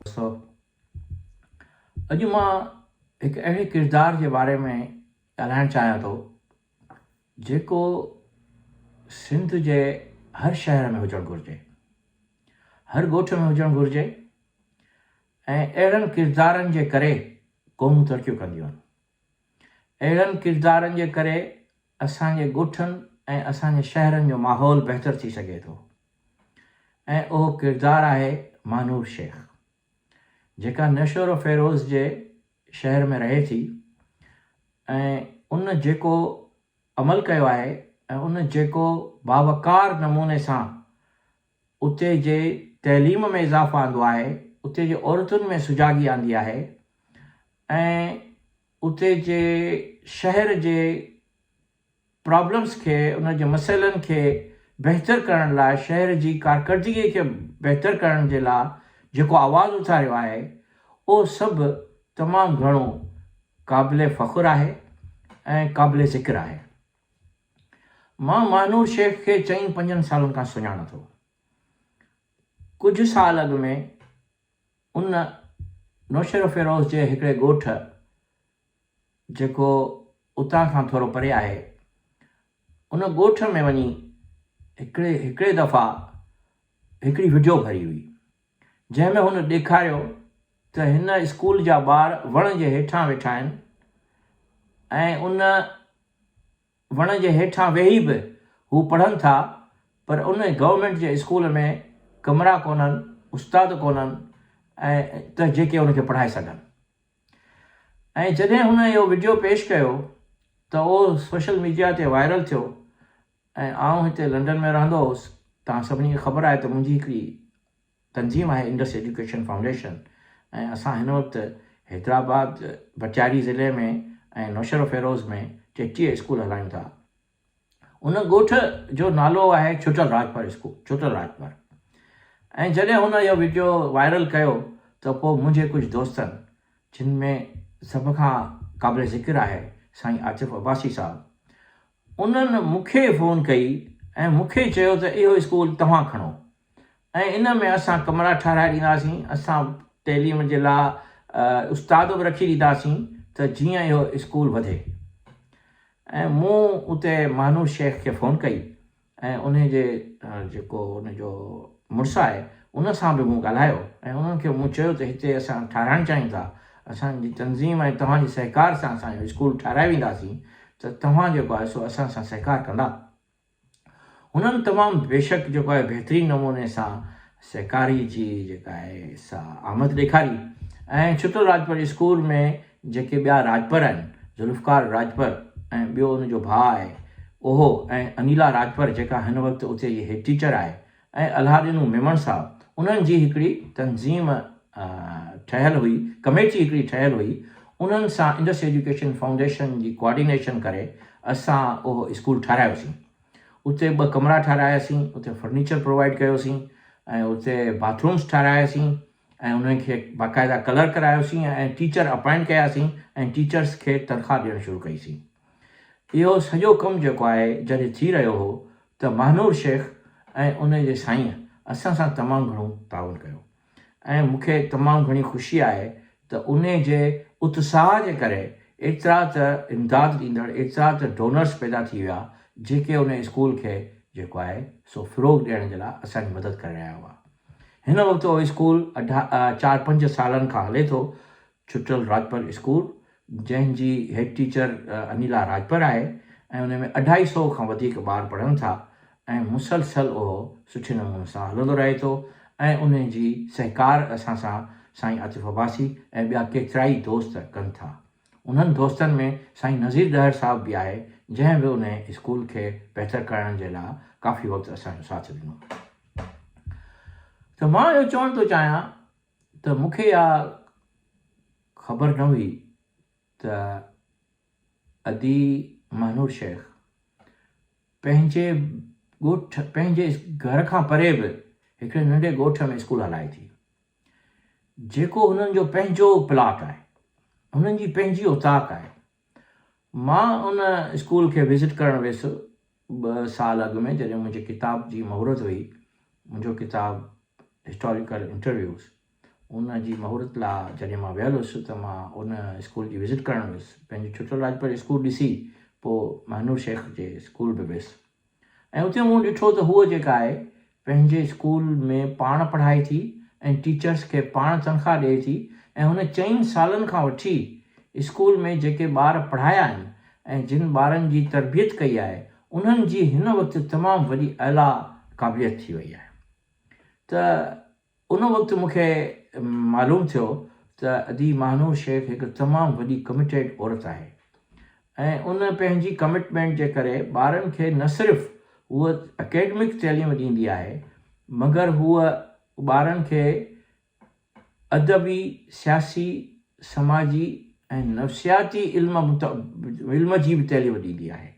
سو اڄ مان هڪ اهڙي ڪردار جي باري ۾ ڳالهائڻ چاهيان ٿو جيڪو سنڌ جي هر شهر ۾ هجڻ گهرجي هر ڳوٺ ۾ هجڻ گهرجي ۽ اهڙن ڪردارن جي ڪري قومون ترقيون ڪنديون آهن اهڙن ڪردارن جي ڪري اسان جي ڳوٺن ۽ اسان جي شهرن جو ماحول بهتر ٿي سگهي ٿو ۽ اهو ڪردار آهي مانور شيخ جيڪا نشورو فيروز جي شهر ۾ رهي ٿي ۽ ان جيڪو عمل ڪيو آهي ۽ ان جيڪو باوقار نموني سان اتي جي تعليم ۾ اضافو آندو آهي، اتي جي عورتن ۾ سجاڳي آندي آهي ۽ اتي جي شهر جي پرابلمس کي ان جي مسئلن کي بهتر ڪرڻ لاء شهر جي ڪارڪردگي کي بهتر ڪرڻ جي لاء جيڪو آواز اٿاريو آهي اهو سڀ تمام گهڻو قابل فخر آهي ۽ قابل ذڪر آهي. مان ماهنور شيخ کي چئن پنجن سالن کان سڃاڻان ٿو. ڪجهه سال اڳ ۾ ان نوشهروفيروز جي هڪڙي ڳوٺ جيڪو اتان کان ٿورو پري آهي ان ڳوٺ ۾ وڃي هڪڙي هڪڙي دفعا هڪڙي وڊيو ڀري هئي. جنهن ۾ هن ڏيکاريو ته هن اسڪول جا ٻار وڻ جي هيٺان ويٺا آهن ۽ ان وڻ جي هيٺان ويهي به هو پڙهن ٿا پر ان گورنمينٽ جي اسڪول ۾ ڪمرا ڪونهن، استاد ڪونهن ته جيڪي ان کي پڙهائي سگهن ۽ جڏهن هن اهو وڊيو پيش ڪيو ته اهو سوشل ميڊيا تي وائرل ٿيو ۽ آئون هتي لنڊن ۾ رهندو هوس. توهان سڀني کي خبر آهي ته منهنجي هڪڙي تنظيم آهي انڊس ايجوڪيشن فائونڊيشن ۽ اسان هن وقت حيدرآباد، ڀٽياري ضلعي ۾ ۽ نوشهروفيروز ۾ ٽيٽيهه اسڪول هلايون ٿا. ان ڳوٺ جو نالو آهي ڇٽل راڄپر اسڪول، ڇٽل راڄپر. ۽ جڏهن هن اهو وڊيو وائرل ڪيو ته پوء منهنجي ڪجهه دوستن جن ۾ سڀ کان قابل ذڪر آهي سائين عاطف عباسي صاحب انهن مون کي فون ڪئي ۽ مون کي چيو ته اهو اسڪول توهان کڻو ۽ ان ۾ اسان ڪمرا ٺهرائي ڏينداسين، اسان تعليم جي لاء استاد به رکي ڏينداسين ته جيئن اهو اسڪول وڌي ۽ مون اتي مانوش شيخ کي فون ڪئي ۽ انهي جي جيڪو ان جو مڙس آهي ان سان به مون ڳالهايو ۽ انهن کي مون چيو ته هتي اسان ٺاهرائڻ چاهيون ٿا اسان جي تنظيم ۽ توهان جي سهڪار سان اسان جو اسڪول ٺاهرائي وينداسين ته توهان جيڪو آهي سو اسان سان سهڪار ڪندا هنن تمام بيشڪ جيڪو آهي بهترين نموني سان سهڪاري جي جيڪا آهي سا آمد ڏيکاري ۽ ڇٽل راڄپر اسڪول ۾ جيڪي ٻيا راڄپر آهن، ذوالفقار راڄپر ۽ ٻيو ان جو ڀاء آهي اهو ۽ انيلا راڄپر جيڪا هن وقت اتي جي هيڊ ٽيچر آهي ۽ الهاڏينو ميمڻ صاحب انهن جي هڪڙي تنظيم ٺهيل هئي ڪميٽي هڪڙي ٺهيل هئي انهن سان انڊس ايجوڪيشن فائونڊيشن جي ڪوآرڊينيشن ڪري اسان اهو اسڪول ٺهرايوسين اتي ٻه ڪمرا ٺهراياسين اتي فرنيچر پرووائيڊ ڪيوسين ۽ اتي باٿ رومس ٺهراياسين ۽ انهن کي باقاعده ڪلر ڪرايوسين ۽ ٽيچر اپائنٽ ڪياسين ۽ ٽيچرس کي تنخواه ڏيڻ شروع ڪئي سين. اهو سڄو ڪم جيڪو آهي جڏهن ٿي رهيو هو ته مهانور شيخ ۽ ان جي سائينء اسان سان تمام گهڻو تعاون ڪيو ۽ مون کي تمام گهڻي خوشي آهي ته انهي جي اتساهه جي ڪري ايترا ته امداد ڏيندڙ ايترا ته ڊونرس پيدا ٿي ويا جيڪي انهي اسڪول کي جيڪو آهي سو فروغ ڏيڻ جي لاء اسان جي مدد ڪري رهيا هئا. هن وقت اهو اسڪول چار پنج سالن کان هلي ٿو. ڇٽل راڄپر اسڪول جنهن جي هيڊ ٽيچر انيلا راڄپر آهي ۽ ان ۾ اڍائي سئو کان وڌيڪ ٻار پڙهن ٿا ۽ مسلسل اهو سٺي نموني سان هلندو رهي ٿو ۽ ان جي سهڪار اسان سان سائين عاطف عباسي ۽ ٻيا ڪيترائي دوست ڪن ٿا. انهن دوستن ۾ سائين نذير ڏهر صاحب به آهي، جنهن به انهيء اسڪول کي بهتر ڪرائڻ جي لاء ڪافي وقت اسان جو ساٿ ڏنو. ته مان اهو چوڻ ٿو چاهيان ته مون کي اها خبر نه هئي ته ادي مهنور شيخ پنهنجي ڳوٺ پنهنجي گهر کان پري به هڪڙي ننڍي ڳوٺ ۾ اسڪول هلائي ٿي. جيڪو هنن جو پنهنجو پلاٽ آهي. هنن جي پنهنجي اوطاق آهي. مان ان اسڪول کي وزٽ ڪرڻ ويس ٻه سال اڳ ۾ جڏهن منهنجي ڪتاب جي مهورت هئي. منهنجو ڪتاب هسٽاريڪل انٽرويوز ان جي مهورت لا جڏهن مان ويل هيس ته مان ان اسڪول جي وزٽ ڪرڻ ويس. پنهنجي ڇٽل راڄپر جي اسڪول ڏسي پوء مهنور شيخ جي اسڪول به ويس. ۽ اتي مون ڏٺو ته هوء جيڪا آهي پنهنجي اسڪول ۾ پاڻ پڙهائي ٿي ۽ ٽيچرس کي پاڻ تنخواهه ڏئي ٿي ۽ هن چئن سالن کان وٺي اسڪول ۾ جيڪي ٻار پڙهايا آهن ۽ جن ٻارن جي تربيت ڪئي آهي انهن جي هن وقت تمام وڏي اعليٰ قابليت ٿي وئي آهي ته ان وقت مون کي معلوم ٿيو ته ادي ماهنور شيخ هڪ تمام وڏي ڪمٽيڊ عورت آهي ۽ ان پنهنجي ڪمٽمينٽ جي ڪري ٻارن کي نه صرف هوء اڪيڊمڪ تعليم ڏيندي آهي مگر هوء ٻارن کي ادبي، سياسي، سماجي ۽ نفسياتي علم علم جي به تعليم ڏيندي آهي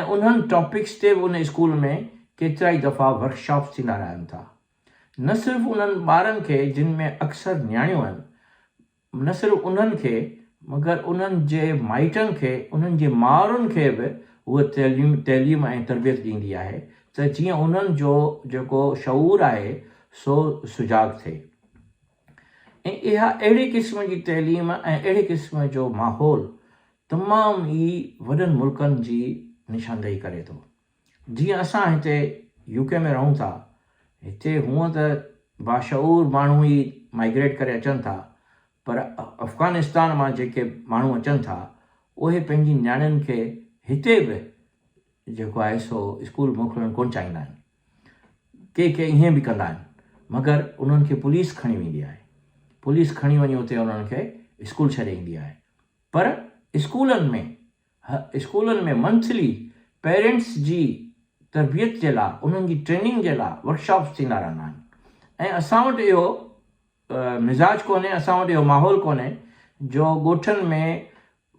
۽ انهن ٽاپڪس تي به ان اسڪول ۾ ڪيترائي دفعا ورڪشاپس ٿيندا رهن ٿا. نه صرف انهن ٻارن کي جن ۾ اڪثر نياڻيون آهن، نه صرف انهن کي مگر انهن جي مائٽن کي، انهن جي مائرن کي به هوء تعليم ۽ تربيت ڏيندي آهي ته جيئن انهن جو جيڪو شعور آهي سو سجاڳ ٿئي ۽ اها اهڙي قسم جي تعليم ۽ اهڙي قسم جو ماحول تمام ئي وڏن ملڪن جي نشاندهي ڪري ٿو. جيئن اسان هتي يو ڪي ۾ رهون ٿا، هتي هونء ته باشعور ماڻهو ئي مائگريٽ ڪري اچن ٿا، پر افغانستان مان جيڪي ماڻهو اچن ٿا، اهي پنهنجي نياڻين کي هتي به جيڪو آهي سو اسڪول موڪلڻ ڪونه چاهيندا آهن. ڪي ڪي ائين به ڪندا آهن، مگر انهن کي پوليس کڻي ويندي آهي. پوليس کڻي وڃي اتي انهن کي اسڪول ڇڏي ايندي آهي. پر اسڪولن ۾ اسڪولن ۾ منٿلي پيرنٽس جي تربيت جي لا انهن جي ٽريننگ جي لا ورڪشاپس ٿيندا رهندا آهن ۽ اسان وٽ اهو مزاج ڪونهي اسان وٽ اهو ماحول ڪونهي جو ڳوٺن ۾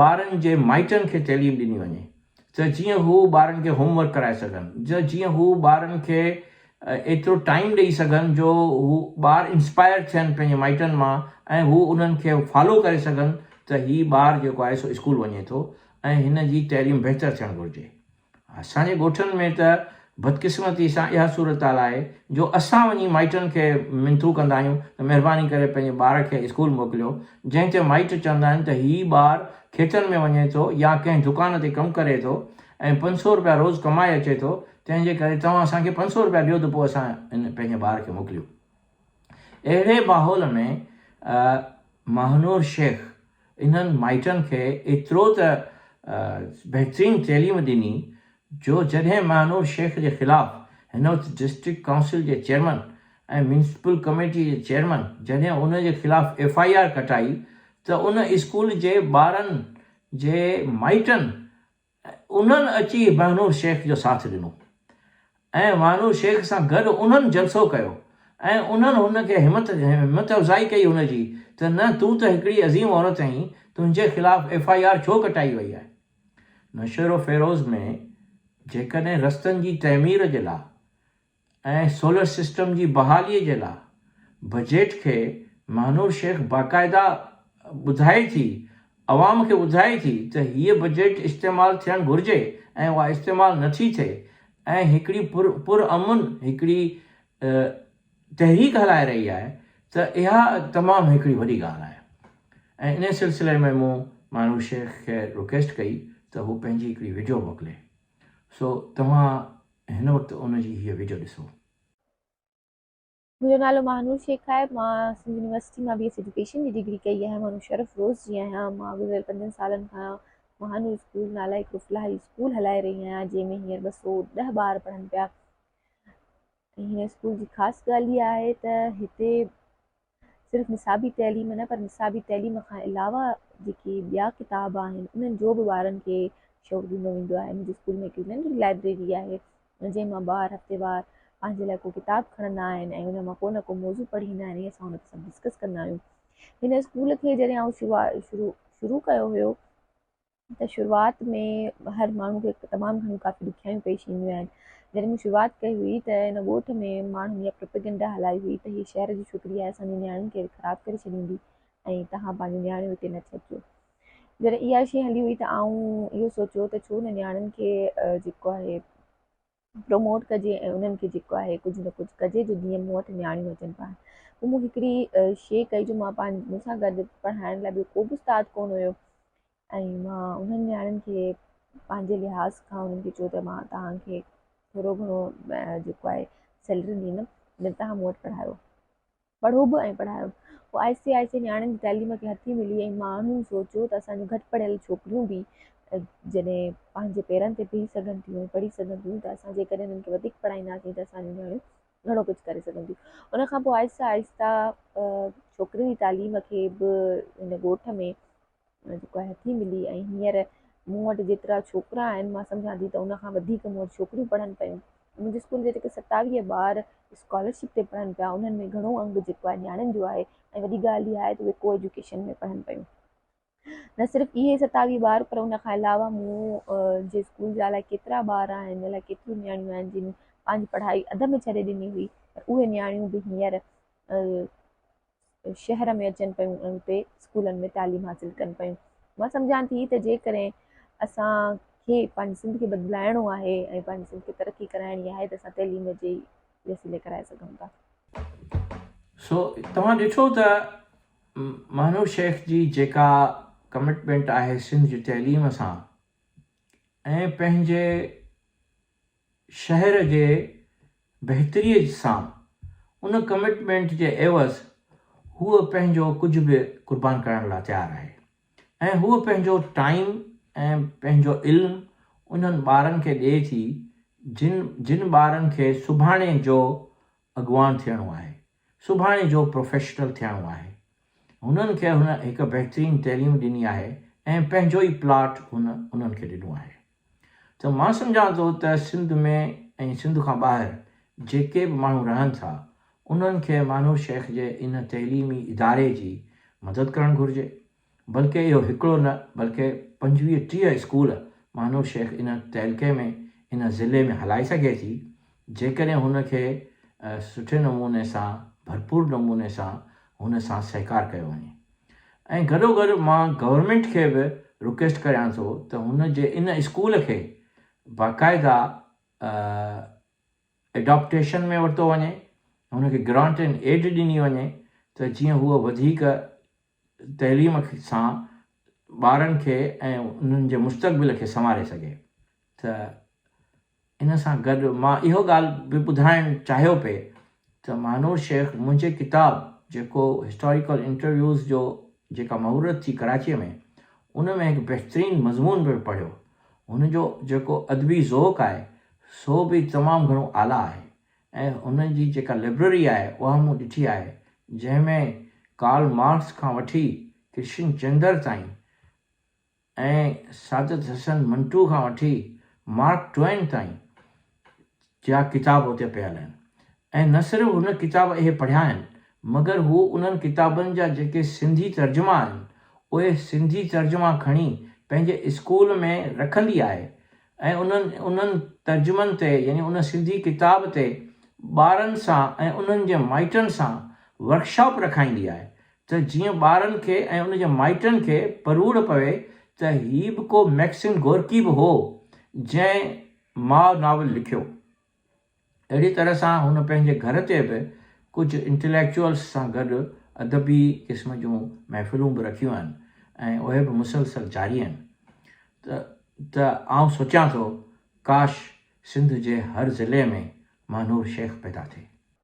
ٻارن جي مائٽن کي تعليم ڏني وڃي ته جيئن هو ٻارن کي هوم ورڪ ڪرائي سگهن جيئن هو ٻارن کي ايترو ٽائيم ڏئي سگهن جو هو ٻار انسپائر ٿين پنهنجي مائٽن مان ۽ هو انهن کي فالو ڪري سگهن ته هي ٻار جيڪو آهي سو اسڪول وڃي ٿو ۽ هن جي تعليم بهتر ٿيڻ گهرجي. اسان جي ڳوٺن ۾ ته بدقسمتي سان اها صورتحال آهي جو اسان وڃي مائٽن کي منٿون ڪندا آهيون ته مهرباني ڪري پنهنجي ٻار کي اسڪول موڪليو جنهن تي مائٽ چوندا آهن ته هي ٻار کيتن ۾ وڃي ٿو يا ڪنهن دڪان تي ڪم ڪري ٿو ۽ پنج سؤ روپيا روز ڪمائي اچي ٿو، تنهن جي ڪري توهان اسان کي پنج سؤ روپيا ڏيو ته پوء اسان ان پنهنجي ٻار کي موڪليون. اهڙي ماحول ۾ ماهنور شيخ انهن مائٽن کي ايترو ته بهترين تعليم ڏني جو جڏهن ماهنور شيخ جي خلاف هن وقت ڊسٽرڪٽ ڪائونسل جي چيئرمن ۽ ميونسپل ڪميٽي جي چيئرمن جڏهن ان جي خلاف ايف آء آر ڪٽائي ته ان اسڪول جي ٻارن جي مائٽن انهن اچي بهنور شيخ جو ساٿ ڏنو ۽ وانور شيخ سان گڏ انهن جلسو ڪيو ۽ انهن هن کي همت همت افزائي ڪئي هن جي ته نه تون ته هڪڙي عظيم عورت آهين تنهنجي خلاف ايف آء آر ڇو ڪٽائي وئي آهي نوشهروفيروز ۾ جيڪڏهن رستن جي تعمير جي لا ۽ سولر سسٽم جي بحالي جي لاء بجيٽ کي مهنور شيخ باقاعده ٻڌائي ٿي عوام کي ٻڌائي ٿي ته هيء بجيٽ استعمال ٿيڻ گهرجي ۽ اها استعمال نه ٿي ٿئي ۽ هڪڙي پر پر امن هڪڙي تحريڪ هلائي رهي آهي ته اها تمام هڪڙي وڏي ڳالهه آهي ۽ انهي سلسلي ۾ مون مهنور شيخ کي رڪويسٽ ڪئي ته هو پنهنجي هڪڙي وڊيو موڪلي سو توهان هن وقت ان جي هيء وڊيو ڏسو. منهنجو نالو ماهنور شيخ آهي. مان سنڌ يونيورسٽي مان بي ايس ايڊيوڪيشن جي ڊگري ڪئي آهي. مان مشرف روز جي آهيان. مان گذريل پنجن سالن کان ماهنور اسڪول نالي هڪڙو فلاحي اسڪول هلائي رهي آهيان جنهن ۾ هينئر ٻه سؤ ڏهه ٻار پڙهن پيا ۽ هن اسڪول جي خاص ڳالهه اها آهي ته هتي صرف نصابي تعليم نه پر نصابي تعليم کان علاوه جيڪي ٻيا ڪتاب آهن انهن جو به ٻارن کي شوق ڏنو ويندو آهي منهنجي اسڪول ۾ هڪڙي ننڍڙي لائبريري آهي جنهن مان ٻار هفتيوار پنهنجي لاء ڪو ڪتاب کڻندا آهن ۽ ان مان ڪو نه ڪو موضوع پڙهيندا آهن ۽ اسان ان تي سڀ ڊسڪس ڪندا آهيون هن اسڪول کي جڏهن آئون شروع شروع ڪيو هيو ته شروعات ۾ هر ماڻهو کي تمام گهڻيون ڪافي ڏکيائيون پيش اينديون آهن. جڏهن مون شروعات ڪئي هئي ته ان ڳوٺ ۾ ماڻهن اها پروپيگنڊا هلائي هئي ته هي شهر جي ڇوڪري آهي اسان جي نياڻين کي خراب ڪري ڇڏيندي ۽ توهان پنهنجون نياڻيون هتي نه ٿي اچو. جڏهن اها شيء هلي هئي ته آئون اهو سوچيو ته ڇو نه نياڻين کي جيڪو آهي پروموٽ ڪجي ۽ انهن کي جيڪو آهي ڪجهه نه ڪجهه ڪجي جو جيئن مون وٽ نياڻيون اچن پاڻ پوء مون هڪڙي شيء ڪئي جو مان پنهنجي مون سان گڏ پڙهائڻ لاء ٻيو ڪو به استاد ڪونه هيو ۽ مان انهن نياڻين کي پنهنجي لحاظ کان انهن کي چيو ته مان توهانکي ٿورو گهڻو جيڪو آهي سيلري ڏيندم جڏهن تان مون وٽ پڙهايو پڙهو به ۽ پڙهايو به. آهستي آهستي نياڻين جي تعليم کي هٿي ملي ۽ ماڻهن سوچيو ته اسان جون گهٽ پڙهيل ڇوڪريون به جڏهن پنهنجي پيرن تي بيهي سگهن ٿيون ۽ پڙهي سگهن ٿيون ته اسان جيڪڏهن انهن کي وڌيڪ پڙهائينداسين ته اسان جون نياڻيون گهڻو ڪجهه ڪري سگهن ٿيون. ان کان پوء آهستي آهستي ڇوڪرين جي تعليم کي به هن ڳوٺ ۾ جيڪو آهي ٿي ملي ۽ هينئر مون وٽ جيترا ڇوڪرا آهن مان سمجهان ٿي ته ان کان وڌيڪ مون وٽ ڇوڪريون پڙهن پيون منهنجي اسڪول جا جيڪي ستاويهه ٻار اسڪالرشپ تي پڙهن پيا انهن ۾ گهڻو انگ جيڪو آهي نياڻين جو آهي ۽ وڏي ڳالهه اها آهي ته اهي ڪو ايجوڪيشن ۾ پڙهن پيون نه صرف اهي ستاويهه ٻار پر ان کان علاوه مون جي اسڪول جا الائي ڪيترا ٻار آهن الائي ڪيتريون نياڻيون آهن جن پنهنجي پڙهائي اڌ ۾ ڇڏي ڏني هئي پر اهي نياڻيون به هينئر شهر ۾ اچن پيون ۽ اتي اسڪولن ۾ تعليم حاصل ڪن پيون مان سمجهان ٿي ته جيڪڏهن اسان کي پنهنجي سنڌ کي بدلائڻو آهي ۽ پنهنجي سنڌ کي ترقي ڪرائڻي آهي ته اسان تعليم جي وسيلي ڪرائي سگهون ٿا سو توهان ڏٺو ته مهنور شيخ جي جيڪا ڪمٽمينٽ آهي سنڌ جي تعليم سان ۽ پنهنجي شهر جي بهتريء سان، ان ڪمٽمينٽ جي عيوض هوء پنهنجو ڪجهه به قربان ڪرڻ لاء تيار آهي ۽ هوء پنهنجو ٽائيم ۽ پنهنجو علم انهن ٻارن کي ڏئي ٿي جن جن ٻارن کي سڀاڻي جو اڳواڻ ٿيڻو آهي، سڀاڻي جو پروفيشنل ٿيڻو آهي. هنن کي هن هڪ بهترين تعليم ڏني آهي ۽ پنهنجو ئي پلاٽ هن انهن کي ڏنو آهي. ته مان سمجهان ٿو ته سنڌ ۾ ۽ سنڌ کان ٻاهر جيڪي به ماڻهو رهن ٿا انهن کي مانوء شيخ جي ان تعليمي اداري جي مدد ڪرڻ گهرجي بلڪه اهو هڪڙو نه بلڪه پنجويهه ٽيهه اسڪول مانوء شيخ ان تعلقي ۾ ان ضلعي ۾ هلائي سگهي ٿي جيڪڏهن هن کي سٺي نموني سان ڀرپور نموني سان هن سان سهڪار ڪيو وڃي. ۽ گڏو گڏ مان گورنمينٽ کي به رڪويسٽ ڪريان ٿو ته هن جي ان اسڪول کي باقاعده ايڊاپٽيشن ۾ ورتو وڃي هن کي گرانٽ اينڊ ايڊ ڏني وڃي ته جيئن هو وڌيڪ تعليم سان ٻارن کي ۽ انهن جي مستقبل کي سنواري سگهي ته ان سان گڏ مان اهو ڳالهه به ٻڌائڻ چاهيو پئي ته مانور شيخ منهنجي ڪتاب جيڪو هسٽاريڪل انٽرويوز جو جيڪا مهورت ٿي ڪراچيء ۾ ان ۾ هڪ بهترين مضمون به پڙهيو هن جو جيڪو ادبي ذوق آهي سو به تمام گهڻو اعليٰ آهي ۽ هن جي جيڪا لئبرري آهي اها مون ڏٺي آهي جنهن ۾ ڪارل مارڪس کان وٺي ڪرشن چندر تائين ۽ سعادت حسن منٽو کان وٺي مارڪ ٽوئن تائين جا ڪتاب اتي پيل آهن ۽ نه صرف هن ڪتاب اهي پڙهيا آهن مگر هو انهن ڪتابن جا جيڪي سنڌي ترجما آهن اهي سنڌي ترجما کڻي پنهنجي اسڪول ۾ رکندي آهي ۽ انهن ترجمن تي يعني ان سنڌي ڪتاب تي ٻارن سان ۽ انهن جي مائٽن سان ورڪشاپ رکائيندي آهي ته جيئن ٻارن کي ۽ ان جي مائٽن کي پروڙ پوي ته هي به ڪو مئڪسم گورڪي به هو جنهن ماء ناول لکيو. اهڙي طرح سان هن پنهنجي گهر تي به ڪجهه انٽليڪچوئلس سان گڏ ادبي قسم جون محفلون به رکيون آهن ۽ اهي به مسلسل جاري آهن ته ته آئون سوچيان ٿو ڪاش سنڌ جي هر ضلعي ۾ مانور شيخ پيدا ٿئي.